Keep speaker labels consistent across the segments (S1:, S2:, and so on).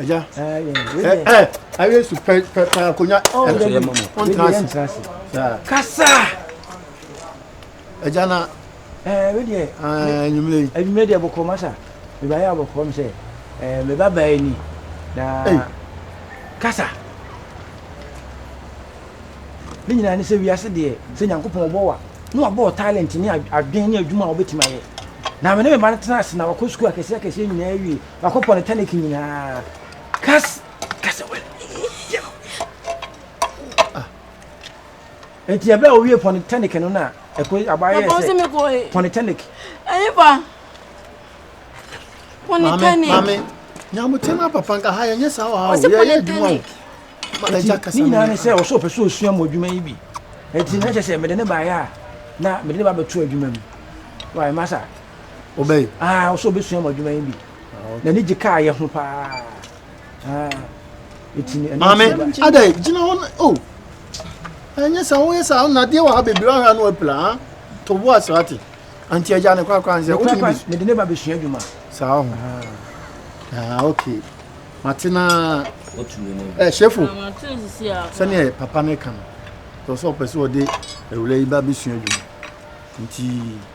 S1: ɛyɛ ɛɛ ayɛ su pɛ pɛ pɛ akonya ɛyɛ mɔ mɔ ɔntena ase kasa ɛgya na ɛɛ wei deɛ ɛɛ enyimire yi enyimire deɛ bɔkɔ masa meba yɛ abɔkɔ mi sɛ ɛɛ meba baa yi ni na kasa ne nyinaa ne sɛ wiase deɛ sɛ nyankopɔn ɔbɔ wa na wabɔ talent ne adwen ne adwuma a wobɛtumi ayɛ na mene meba no tena ase na wakɔ sukuu akɛseɛ akɛseɛ nyinaa awie Makɔpɔ ne tonic nyinaa. Kas kasa wɔ yɛ. Ah. Enti ɛbɛ a owie pɔ ne tonic no na ɛkɔ abayɛ sɛ pɔ ne tonic. Ɛyɛ fa. Pɔ ne tonic. Maame, maame, nyamutem na papa nka ha yɛ nyɛ saa wɔ ha o. Yɛ yɛ adwuma o. Ɛgya kasa. Ne nyinaa ne sɛ ɔsɔ ɔpɛ so osua mo adwuma yi bi. Enti na kyɛ sɛ mede ne baayɛ a na mede ne ba bɛto adwuma mu. Wa masa. Wobɛyɛ? Ah, ɔsɛ ɔbɛsua mu adwuma yi bi. Ah, N'ani gye kaa yɛ ho paa. Ah, ɛtumi ɛno Maame, adɛ gyina hɔ o. Oh. Ɛnyɛ sɛ woyɛ sɛ nadeɛ wɔ ha bebree ahwɛ ano apira ha. To bo asrate. Anti agya ne korakora nsɛ. Wode ne bi. Mede ne ba bɛsua adwuma. Saa ho. Ah, ah okay. Mate na eh shefo. Ah, Sɛnea papa ne ka no. Tɔ sɛ ɔpɛ sɛ ɔde awura yi ba bɛsua adwuma. Nti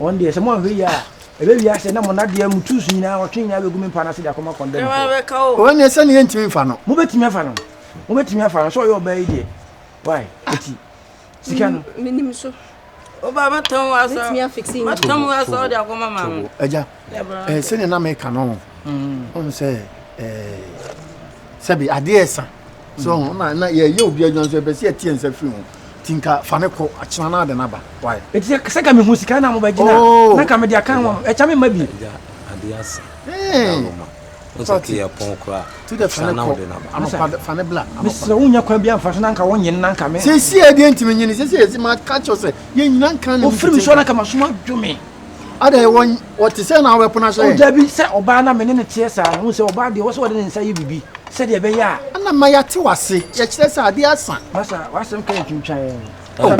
S1: Wɔn deɛ sɛ moanhwɛ yie a, ɛbɛwie asɛ na mo nnadeɛ, mo tools nyinaa, ɔtwe nyinaa bɛgu me mpa no ase de akɔma kɔndɛmfoɔ. Wɔn deɛ sɛdeɛ yɛntumi mfa no. Mobɛtumi afa no. Mobɛtumi afa no sɛ ɔyɛ ɔbaa yi deɛ. Why? Ɛti sika no. Menim so. Ɔbaa mɛtɔn wɔ asa. Mɛtumi afikisi yi. Mɛtɔn wɔ asa ɔde akɔma maame. Agya. Eh, sɛnea na meka no ɔhu sɛ eh, sɛbi adeɛ ɛsa so ɔhu na na yɛyɛ obi adwuma nso ɛpɛ sɛ yɛteɛ nsa firi ho nti nka fa ne kɔ akyena no ade no aba wae ɛti sɛ ka mehu sika na mobɛgyina oh. na ka mede aka ho ɛkyɛ me ma bi adeɛ asa mesrɛ wonya kwan bi amfa so na nka wonyene na nka me sɛsie adeɛ ntimi nyene sɛsie ɛsi maka kyɛw sɛ yɛnyina nka ne ofiri me so na ka masoma dwome Ada yɛ wɔn wɔte sɛ na wɔbɛpono ahyɛ yɛn. O dabi sɛ ɔbaa na me ne no teɛ saa no wohu sɛ ɔbaa deɛ ɔwɔ sɛ wɔde ne nsa yɛ biribi sɛdeɛ ɛbɛyɛ a. Ana ma yɛate w'ase yɛkyerɛ sɛ adeɛ asa. Masa w'asɛm ka yɛ twintwan. Oh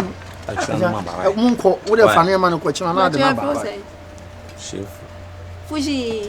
S1: akyerɛ no ma ba wai. Monkɔ wode fa nneɛma no kɔ kyerɛ no na ade no aba wai. Fuji.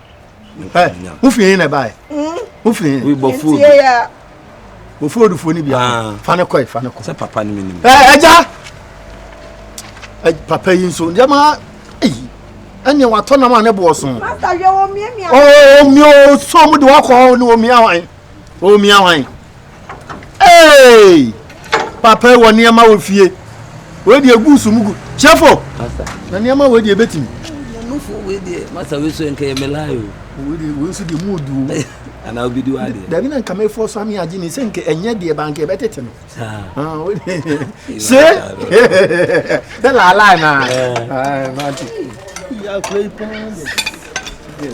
S1: wofie he na ɛbaɛ wofie he wɔfo odufoɔ no bia fa no kɔe fa no kɔ sɛ papa no menim
S2: agya
S1: papa yi nso nneɛma ayi ɛne watɔ nam a ne boɔ so
S3: ɔmia
S1: ɔsɔ mu de wakɔ hɔ ne ɔmia hwan ɔmia hwan Hey! Papa yi wɔ nneɛma wɔ fie. Wei deɛ gu so mu gu. Kyɛfo! Na nneɛma wei deɛ bɛtumi. Nufo wei
S2: deɛ masa wei so nka yɛ melae o. Wei deɛ wei nso deɛ
S1: mu odu o. Ana obi di wa
S2: deɛ. Dabi na nka mefo so ame
S1: agye ne sɛ nka ɛnyɛ deɛ ba nka ɛbɛtete no. Saa. Ah, wei deɛ. Se! Bɛ laalae na. Ah, mate. Ya kura yi paa deɛ.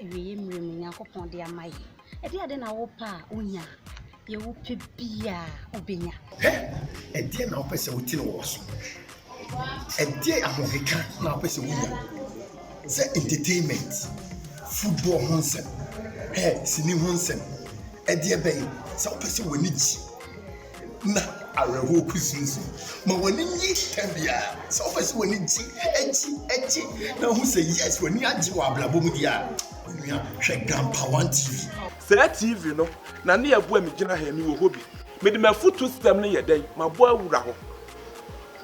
S4: Awieeɛ mmerɛ mu Nyankopɔn de ama yɛn. Ɛdeɛ adɛn na wo pɛ a wo nya a, deɛ wo pɛ biaa wo bɛ nya. Hɛ! Ɛdeɛ
S1: na wo pɛ sɛ wo tene wɔ w'aso? Ɛdeɛ ahoheka na wo pɛ sɛ wo nya? Sɛ entertainment, football ho nsɛm, hɛ! Sini ho nsɛm, ɛdeɛ bɛn? Sɛ wo pɛ sɛ w'ani gye. na awerɛhoɔ kusinsin. Ma w'ani nye tɛm biara. Sɛ wopɛ sɛ w'ani gye, gye, gye na wohu sɛ yes w'ani agye wɔ abrabɔ mu deɛ a, onua hwɛ Grandpa One TV. Saa TV
S5: no na ne ɛboa me gyina ha yi, mewɔ hɔ bi. Mede m'afutuo system no yɛ dɛn? Mabɔ awura hɔ.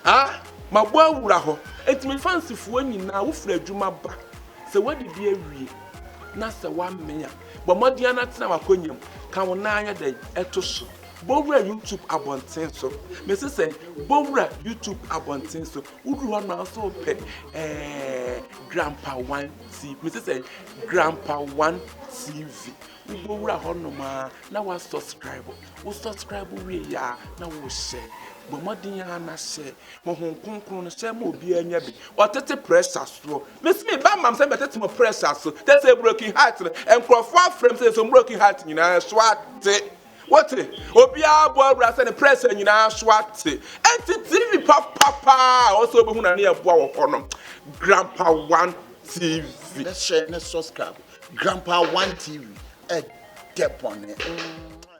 S5: Ah! Mabɔ awura hɔ. Enti me fansifoɔ nyinaa, wofiri adwuma ba, sɛ woadidi awie na sɛ woamee a, bɔ mmɔden ara na tena w'akonnwa mu, ka wo nan ayɛ dɛn? To so. Bɔwura YouTube abɔnten so. Mese sɛn? Bɔwura YouTube abɔnten so. Woduru hɔ no nso pɛ ɛɛ Grandpa One TV. Mese sɛn? Grandpa One TV. Wobɔwura hɔ nom a na wa subscribe. Wo subscribe wie yɛ a na wo hyɛ. Bɔ mmɔden a na hyɛ. Honhom kronkron no hyɛ ma obiara nya bi. Ɔtete pressure soɔ. Mese me ba mam sɛ bɛtete mo pressure so. Tɛ sɛ broken heart no. Nkurɔfoɔ afrɛ m sɛ yɛsɔ broken heart nyinaa so ate. Wote? Obiara bɔ awura sɛ ne prɛsɛ nyinaa so ate. Enti TV papa paa a ɔsɛ obehu na ne yɛ boa wɔ hɔ no. Grandpa One TV. Ne hyɛ ne
S6: subscribe. Grandpa One TV. Ɛdɛ bɔne.